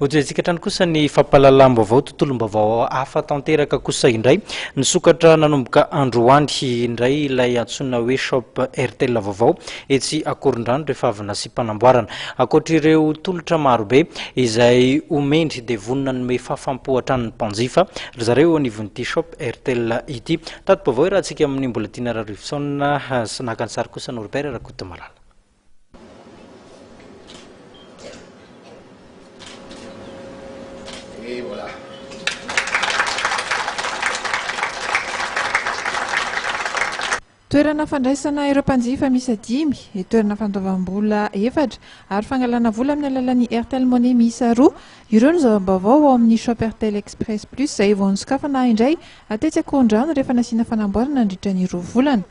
Hojerentsika hatrany kosa ny fampahalalam-baovao, tontolom-baovao hafa tanteraka kosa indray. Nisokatra nanomboka androany indray ilay antsoina hoe Shop Airtel vaovao etsy Akorondrano rehefa avy nasiam-panamboarana. Ankoatr'ireo tolotra marobe izay omeny dia vonona hanome fahafaham-po hatrany ny mpanjifa ry zareo eo anivon'ity Shop Airtel ity. Tati-baovao iarahantsika amin'i Mbolatiana Rarivotsaona sy naka ny sary kosa Norbert Rakotomalala. Toerana fandraisana ireo mpanjifa miisa dimy, toerana fandoavam-bola efatra ary fangalana vola amin'ny alalan'ny Airtel Money miisa roa. Ireo no zava-baovao ao amin'ny Shop Airtel Express Plus izay vao nosokafana indray tetsy Ankorondrano rehefa nasiana fanamboarana nandritra ny roa volana.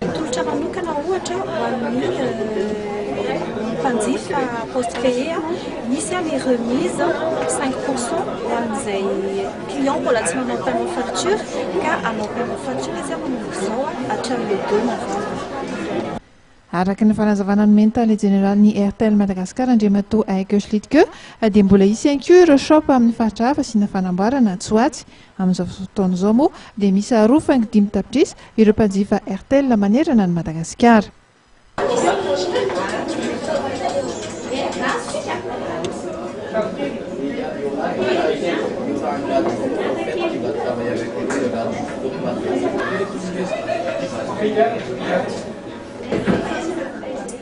Tolotra manokana ohatra ho an'ny mpanjifa postpay misy ny remise cinq pour cent ho an'izay client mbola tsy manao paiement facture ka hanao paiement facture izy amin'izao hatramin'ny le deux novembre. Araka ny fanazavana nomen'ny tale jeneralin'ny Airtel Madagascar Andriamatoa Aiko Schlitke dia mbola hisy ihany koa ireo shop amin'ny faritra hafa asiana fanamboarana atsy ho atsy Amin'izao fotoana izao moa dia miisa roa faingo dimy tapitrisa ireo mpanjifa Airtel manerana an'i Madagasikara.